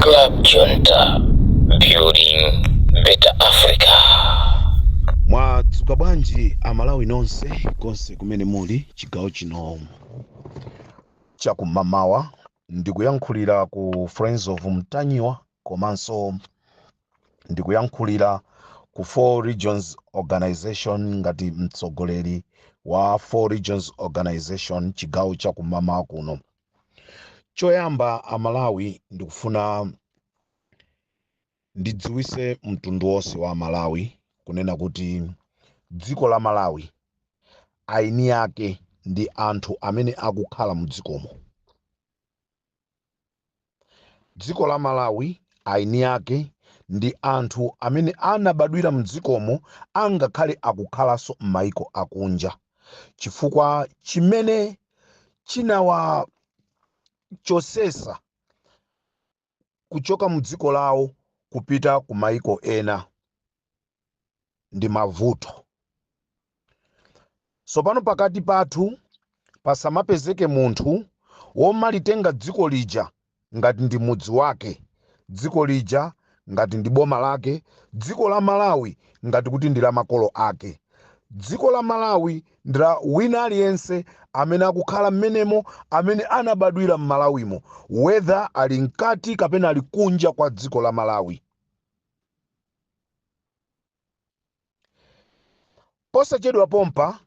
Klub Junta, building better Africa. Mwadzuka bwanji amalawi nonse konse kumene muli chigawo chino chakum'mawa ndikuyankhulira ku friends of Ntanyiwa komanso ndikuyankhulira ku four regions organization ngati mtsogoleri wa four regions organization chigawo chakum'mawa kuno Choyamba Amalawi ndikufuna ndidziwise mtundu wonse wa Amalawi kunena kuti dziko la Malawi aini ake ndi anthu amene akukhala mudzikomo. Dziko la Malawi aini ake ndi anthu amene anabadwira mdzikomo angakhale akukhalanso mmaiko akunja chifukwa chimene chinawachosesa kuchoka mu dziko lawo kupita ku maiko ena ndi mavuto tsopano pakati pathu pasamapezeke munthu womalitenga dziko lija ngati ndi mudzi wake, dziko lija ngati ndi boma lake, dziko la Malawi ngati kuti ndi la makolo ake. Dziko la Malawi ndi la wina aliyense amene akukhala mmenemo, amene anabadwira m'Malawimo, whether ali mkati kapena ali kunja kwa dziko la Malawi. Posachedwa pompa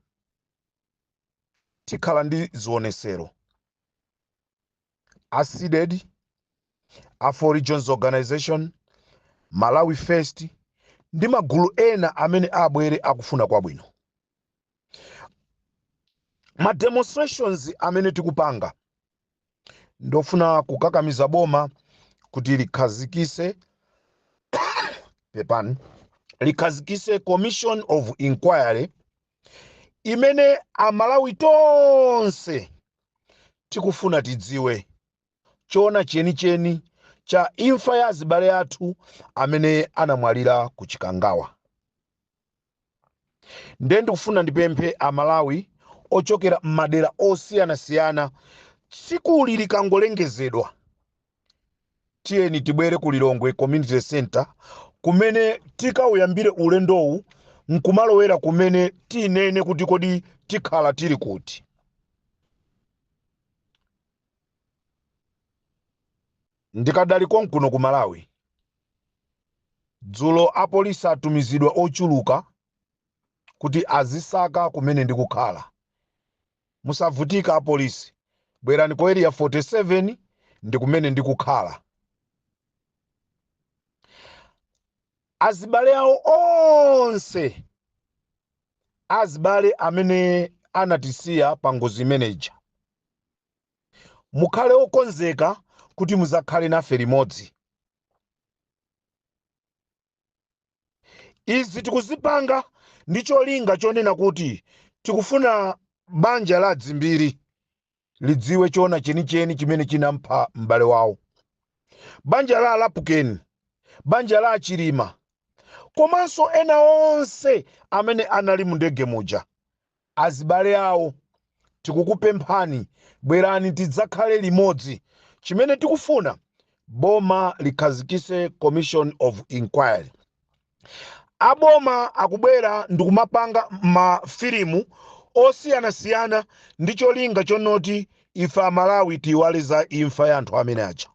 tikhala ndi zionesero. a CDEDI a four regions organization malawi first ndi magulu ena amene abwere akufuna kwabwino ma demonstrations amene tikupanga ndofuna kukakamiza boma kuti likhazikise pepani likhazikise commission of inquiry imene amalawi tonse Tikufuna tidziwe choona chenicheni cha imfa ya azibale athu amene anamwalira ku Chikangawa. Nde ndikufuna ndipemphe a Malawi ochokera m'madera osiyanasiyana tsikuli likangolengezedwa tiyeni tibwere ku lilongwe community center kumene tikauyambire ulendowu nkumalowera kumene tinene kuti kodi tikhala tili kuti ndikadali konkuno ku malawi dzulo apolisi atumizidwa ochuluka kuti azisaka kumene ndikukhala Musavutika apolisi bwerani ku area 47 ndikumene ndikukhala. Azibale awo onse azibale amene anatisiya pa ngozi imeneja mukhale okonzeka kuti muzakhale nafe limodzi. izi tikuzipanga ndi cholinga chonena kuti tikufuna banja la adzimbiri lidziwe chona chenicheni chimene chinampha m'bale wawo banja la alapukeni banja la achilima komanso ena onse amene anali mu ndege muja azibale awo, tikukupemphani bwerani tidzakhale limodzi, chimene tikufuna boma likhazikise commission of inquiry. Aboma akubwera ndikumapanga ma filimu osiyanasiyana ndi cholinga chonoti ife amalawi tiiwale za imfa ya anthu amene aja.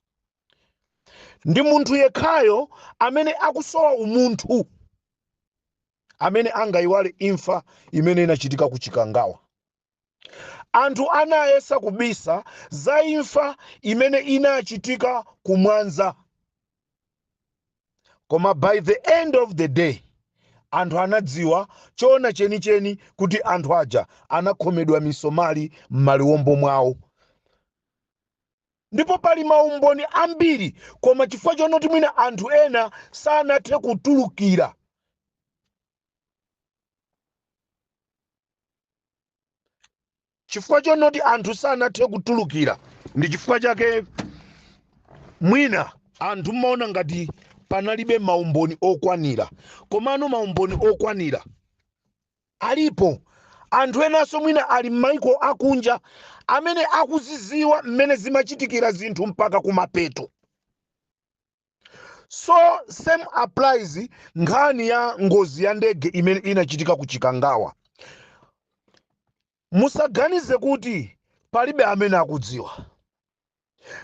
Ndi munthu yekhayo amene akusowa umunthu. amene angaiwale imfa imene inachitika ku Chikangawa? Anthu anayesa kubisa za imfa imene inachitika ku Mwanza, koma by the end of the day anthu anadziwa choona chenicheni kuti anthu aja anakhomedwa misomali m'maliwombo mwawo. ndipo pali maumboni ambiri koma chifukwa chonoti mwina anthu ena sanathe kutulukira chifukwa chonoti anthu sanathe kutulukira ndi chifukwa chake mwina anthu mmaona ngati panalibe maumboni okwanira komano maumboni okwanira Alipo anthu enanso mwina ali m'mayiko akunja amene akuzidziwa mmene zimachitikira zinthu mpaka kumapeto. So same applies nkhani ya ngozi ya ndege imene inachitika ku Chikangawa. Musaganize kuti palibe amene akudziwa.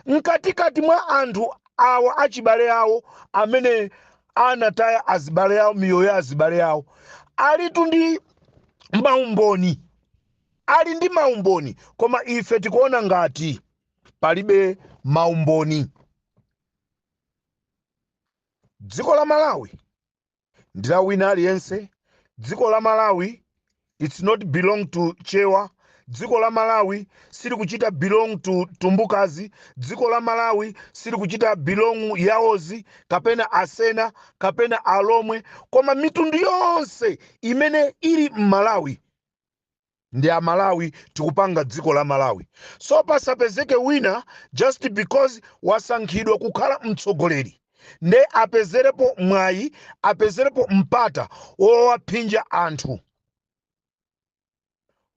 Mkatikati mwa anthu awa achibale awo amene anataya azibale awo miyoyo ya azibale awo alitu ndi maumboni ali ndi maumboni koma ife tikuona ngati palibe maumboni dziko la malawi ndi la wina aliyense dziko la malawi its not belong to chewa dziko la malawi silikuchita belong to Tumbukas dziko la malawi silikuchita belong Yaos kapena asena kapena alomwe koma mitundu yonse imene ili m'malawi ndi amalawi tikupanga dziko la malawi so pasapezeke wina just because wasankhidwa kukhala mtsogoleri nde apezerepo mwayi apezerepo mpata wowaphinja anthu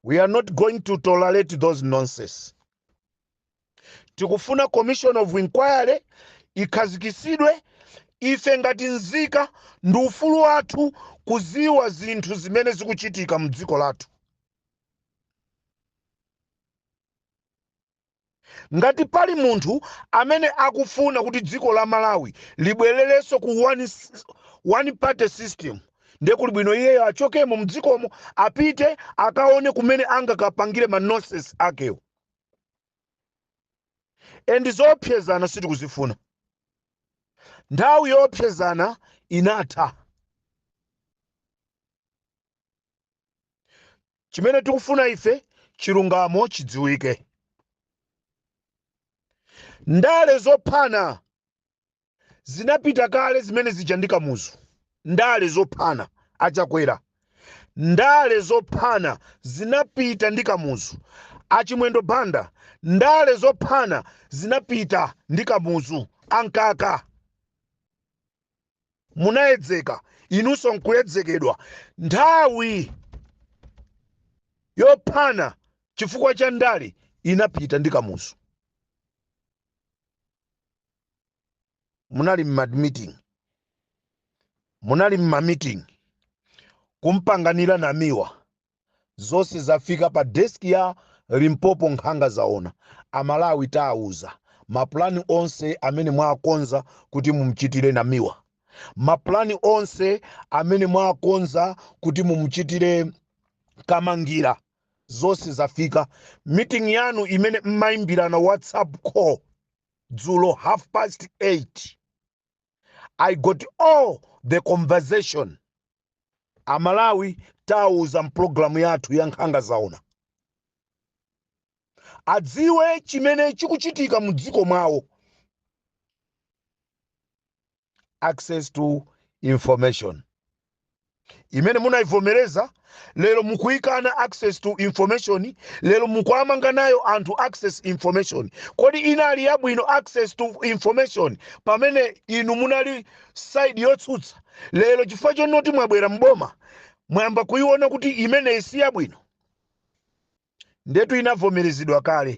we are not going to tolerate those nonsense tikufuna commission of inquiry ikhazikitsidwe ife ngati nzika ndi ufulu wathu kuziwa zinthu zimene zikuchitika mdziko lathu ngati pali munthu amene akufuna kuti dziko la malawi libwererenso ku one, s- one party system ndiye kuli bwino iyeyo achokemo mdzikomo apite akaone kumene angakapangire ma nonsense akewo endi zoopsezana sitikuzifuna nthawi yoopsezana inatha chimene tikufuna ife chilungamo chidziwike ndale zophana zinapita kale zimene zija ndi kamuzu ndale zophana achakwera ndale zophana zinapita ndi kamuzu achimwendo banda ndale zophana zinapita ndi kamuzu a Mkaka munayedzeka inunso nkuyedzekedwa nthawi yophana chifukwa cha ndale inapita ndi kamuzu munali mma meeting munali mma meeting kumpanganira namiwa zonse zafika pa desk ya limpopo nkhanga zaona amalawi taawuza mapulani onse amene mwakonza kuti mumchitire namiwa mapulani onse amene mwakonza kuti mumchitire kamangira zonse zafika. Meeting yanu imene mmaimbirana WhatsApp call dzulo half past 8 I got all the conversation. Amalawi tawauza mpulogalamu yathu ya nkhanga zaona adziwe chimene chikuchitika mu dziko mwawo. access to information imene munaivomereza lero mukuyikana access to information lero mukuamanga nayo anthu access information kodi inali yabwino access to information pamene inu munali side yotsutsa lero chifukwa chonoti mwabwera mboma mwayamba kuiona kuti imeneyi si yabwino Ndetu inavomerezedwa kale.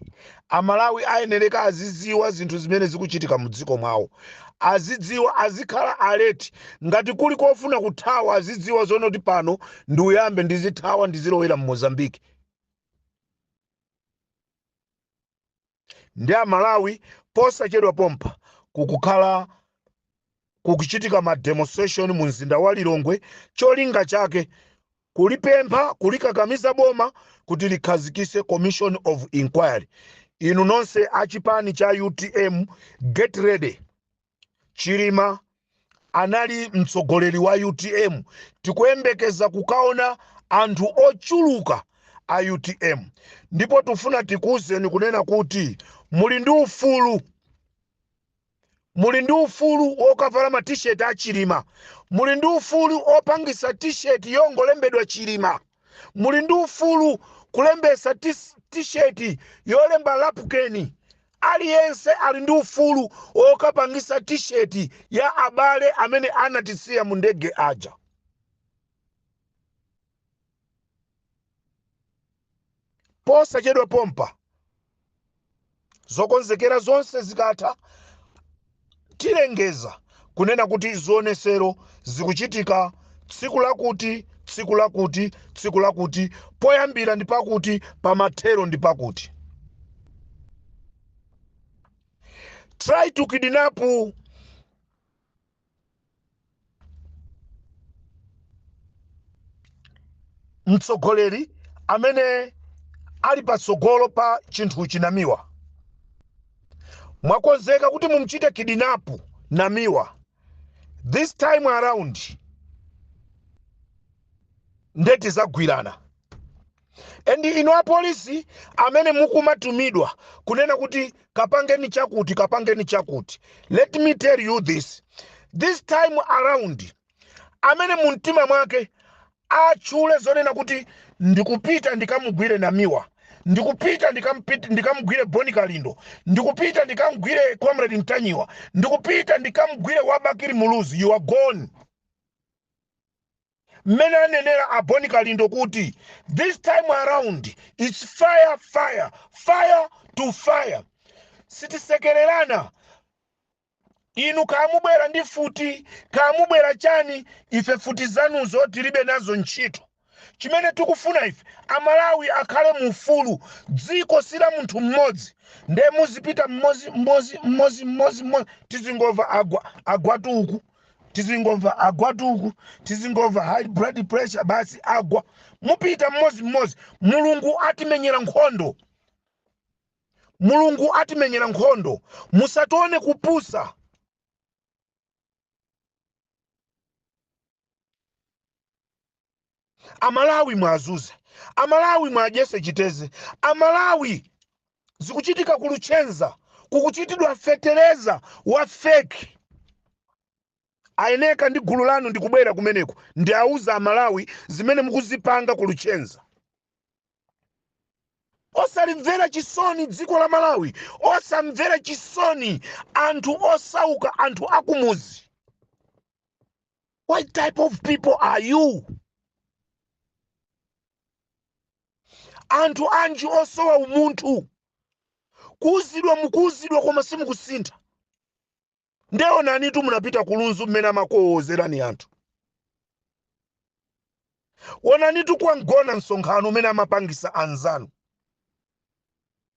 Amalawi ayenereka aziziwa zinthu zimene zikuchitika mu dziko mwawo. Azidziwa, azikhala alert. Ngati kuli kofuna kuthawa azidziwa zoona kuti pano ndiyambe ndizithawa ndizilowera mu Mozambique. Nde a Malawi posachedwa pompa kukhala kukuchitika ma demonstration mu mzinda wa Lilongwe cholinga chake kulipempha kulikakamiza boma kuti likhazikise commission of inquiry. Inu nonse a chipani cha utm get ready. chilima anali mtsogoleri wa utm tikuyembekeza kukaona anthu ochuluka a utm ndipo tufuna tikuwuzeni kunena kuti muli ndi ufulu muli ndi ufulu wokavala ma t-shirt a chilima muli ndi ufulu wopangisa t-shirt yongolembedwa chilima muli ndi ufulu kulembesa tis- t-shirt yolemba lapukeni Aliyense ali ndi ufulu wokapangisa t-shirt ya abale amene anatisiya mu ndege aja. Posachedwa pompa, zokonzekera zonse zikatha, tilengeza kunena kuti zionetsero zikuchitika tsiku lakuti, tsiku lakuti, tsiku lakuti, poyambira ndi pakuti, pamathero ndi pakuti. Try to kidnap mtsogoleri amene ali patsogolo pa chinthuchi namiwa mwakonzeka kuti mumchite kidnap namiwa this time around nde tizagwirana and inu apolisi amene mukumatumidwa kunena kuti kapangeni chakuti kapangeni chakuti let me tell you this this time around amene mu mtima mwake atchule zonena kuti ndikupita ndikamugwire namiwa ndikupita ndikampit- ndikamugwire boni kalindo ndikupita ndikamugwire comrade ntanyiwa ndikupita ndikamugwire wa bakili muluzi you are gone mmene anenera a Boni Kalindo kuti this time around it's fire fire fire to fire sitisekererana inu kaya mubwera ndi futi kaya mubwera chani ife futi zanuzo tilibe nazo ntchito chimene tikufuna ife amalawi akhale mu ufulu dziko si la munthu mmodzi nde muzipita mmozi mmozi mmozi mmozi mmozi tizingova aa agwatu uku tizingomva agwatu uku tizingomva high blood pressure basi agwa mupita mmodzi mmodzi mulungu atimenyera nkhondo mulungu atimenyera nkhondo musatione kupusa amalawi mwazunze amalawi mwadyese chiteze amalawi zikuchitika kuluchenza kukuchitidwa fetereza wa feki ayeneka ndi gulu lanu ndikubwera kumeneko ndiauza amalawi zimene mukuzipanga kuluchenza osalimvera chisoni dziko la malawi osamvera chisoni anthu osauka anthu akumuzi what type of people are you anthu anji osowa umunthu kuuzidwa mukuuzidwa koma simukusintha nde onanitu munapita kulunzu mmene amakuwowozerani anthu wonanitu kwa mgona msonkhano umene amapangisa anzanu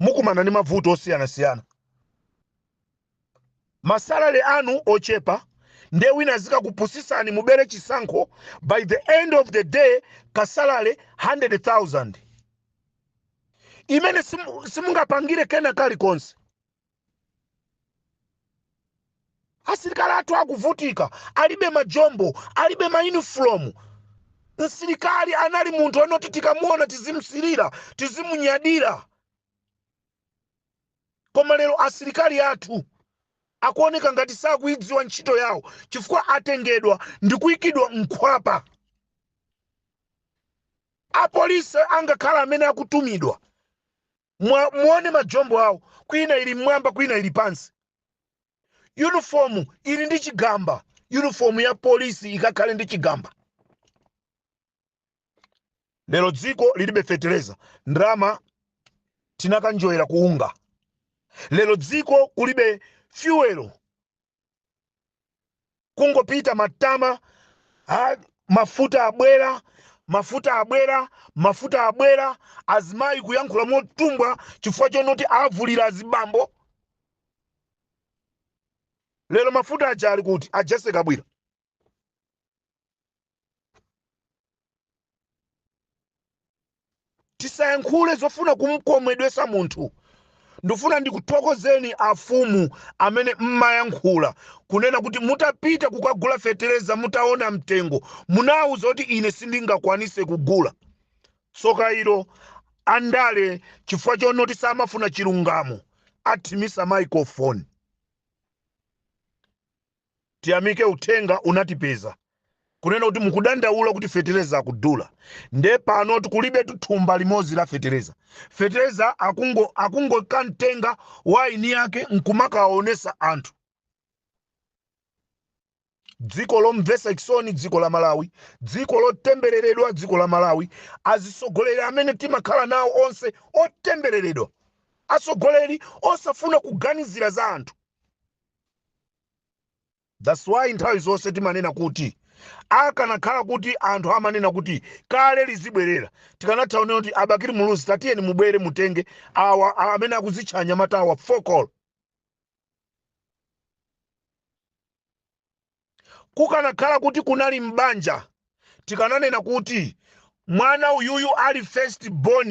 mukumana ndi mavuto osiyanasiyana masalale anu ochepa nde wina azikakupusisani mubere chisankho by the end of the day kasalale 100000 imene simu- simungapangire kena kalikonse asilikali athu akuvutika alibe majombo alibe mayunifomu msilikali anali munthu anoti tikamuona tizimsirira tizimunyadira koma lero asilikali athu akuoneka ngati sakuidziwa ntchito yawo chifukwa atengedwa ndi kuyikidwa mkhwapa apolisi angokhala amene akutumidwa Mwa- muone majombo awo kwina ili mmwamba kwina ili pansi uniform ili ndi chigamba uniform ya polisi ikakhale ndi chigamba lero dziko lilibe fetereza ndalama tinakanjoyera ku UNGA lero dziko kulibe fyuwelo kungopita matama ha, mafuta abwera mafuta abwera mafuta abwera azimayi kuyankhula motumbwa chifukwa chonoti avulira azibambo lero mafuta aja ali kuti a Jessie Kabwila tisayankhule zofuna kumkomedwesa munthu ndifuna ndikuthokozeni afumu amene mmayankhula kunena kuti mutapita kukagula fetereza mutaona mtengo munawuza kuti ine sindingakwanise kugula tsoka ilo andale chifukwa chonoti samafuna chilungamo athimisa microphone tiyamike uthenga unatipeza kunena kuti mukudandaula kuti fetereza akudula nde pano tikulibe tuthumba limodzi la fetereza fetereza akungokamtenga mwini wake nkumakawaonesa anthu dziko lomvesa chisoni dziko la malawi dziko lotembereredwa dziko la malawi azisogoleri amene timakhala nawo onse otembereredwa asogoleri osafuna kuganizira za anthu That's why nthawi zonse timanena kuti akanakhala kuti anthu amanena kuti kale lizibwerera tikanatha kunena kuti a Bakili Muluzi tatiyeni mubwere mutenge awa amene akuzitcha anyamata awa fokolo Kukanakhala kuti kunali m'banja tikananena kuti mwana uyuyu ali first born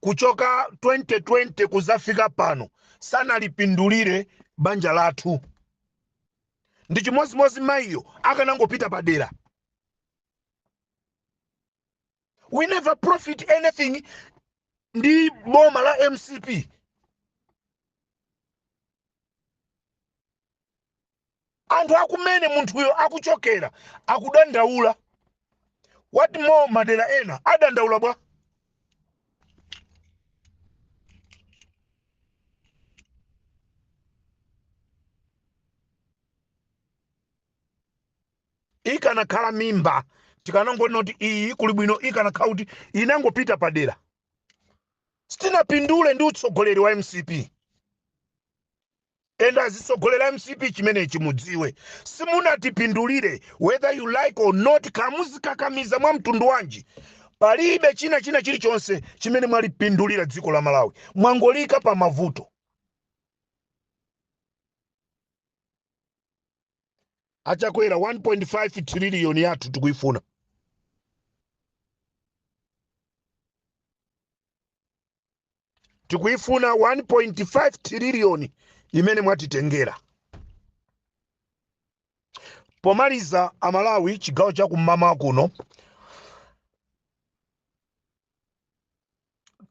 kuchoka 2020 kuzafika pano sanalipindulire banja lathu. Ndi chimodzimodzi mayiyo akanangopita padera. We never profit anything ndi boma la mcp Anthu akumene munthuyo akuchokera akudandaula. What more madera ena adandaula bwa? ikanakhala mimba tikanangonena kuti iyi kuli bwino ikanakhala kuti inangopita padera sitinapindule ndi utsogoleri wa mcp and azitsogoleri a mcp chimenechi mudziwe simunatipindulire whether you like or not kaya muzikakamiza mwa mtundu wanji palibe china china chilichonse chimene mwalipindulira dziko la malawi mwangoliika pa mavuto a Chakwera 1.5 triliyoni yathu tikuyifuna tikuifuna 1.5 tiriliyoni imene mwatitengera pomaliza amalawi chigawo cha kum'mawa kuno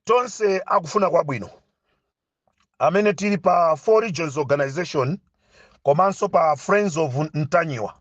tonse akufuna kwabwino amene tili pa four regions organization komanso pa friends of ntanyiwa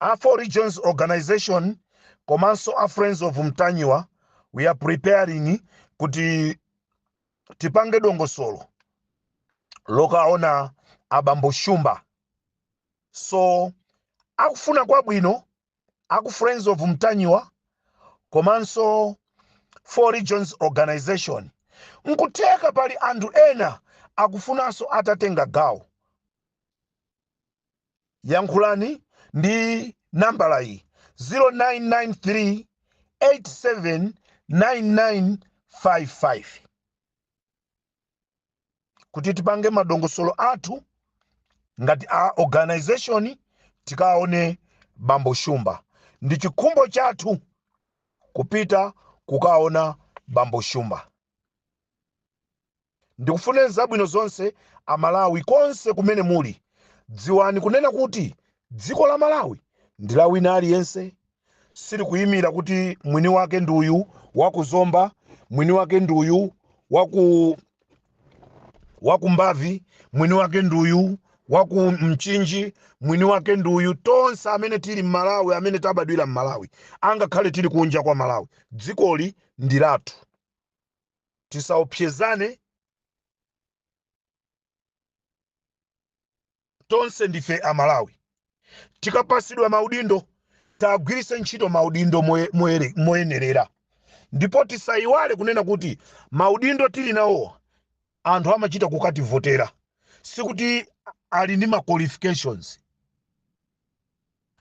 A Four Regions Organization komanso a Friends of Mtanyiwa we are preparing kuti tipange dongosolo lokawaona abambo Shumba so akufuna kwabwino aku Friends of Mtanyiwa komanso Four Regions Organization nkutheka pali anthu ena akufunanso atatenga gawo yankhulani ndi nambala iyi 0993 879955 kuti tipange madongosolo athu ngati a organization tikaone bambo shumba ndi chikhumbo chathu kupita kukaona bambo shumba Ndikufuneni zabwino zonse a Malawi konse kumene muli. Dziwani kunena kuti dziko la Malawi ndi la wina aliyense. Silikuyimira kuti mwini wake ndi uyu wa ku Zomba, mwini wake ndi uyu wa ku Mbavi, mwini wake ndi uyu wa ku Mchinji, mwini wake ndi uyu. Tonse amene tili m'Malawi, amene tabadwira m'Malawi, angakhale tili kunja kwa Malawi, dzikoli ndi lathu. tisaopsezane tonse ndife amalawi tikapasidwa maudindo tagwirise ntchito maudindo moye- moyere- moyenerera ndipo tisayiwale kunena kuti maudindo tili nawowa anthu amachita kukativotera sikuti ali ndi ma qualifications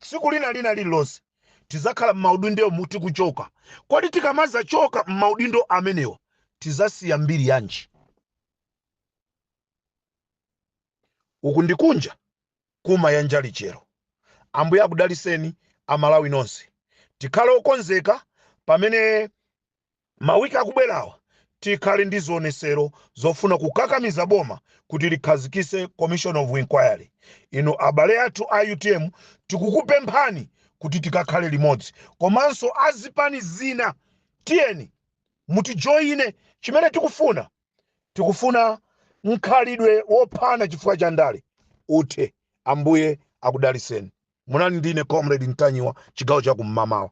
Tsiku lina lina lililonse tidzakhala m'maudindomu tikuchoka. Kodi tikamadzachoka m'maudindo amenewa tidzasiya mbiri yanji? Uku ndi kunja kumayanja lichero. Ambuye akudalitseni a Malawi nonse. Tikhale okonzeka pamene. Mawiki akubwerawa tikhale ndi zionetsero zofuna kukakamiza boma kuti likhazikitse commission of inquiry. Inu abale athu a utm tikukupemphani kuti tikakhale limodzi komanso a zipani zina tiyeni mutijoine. Chimene tikufuna, tikufuna mkhalidwe wophana chifukwa cha ndale uthe. Ambuye akudalitseni. Munali ndi ine Comrade Mtanyiwa, chigawo cha kummamawa.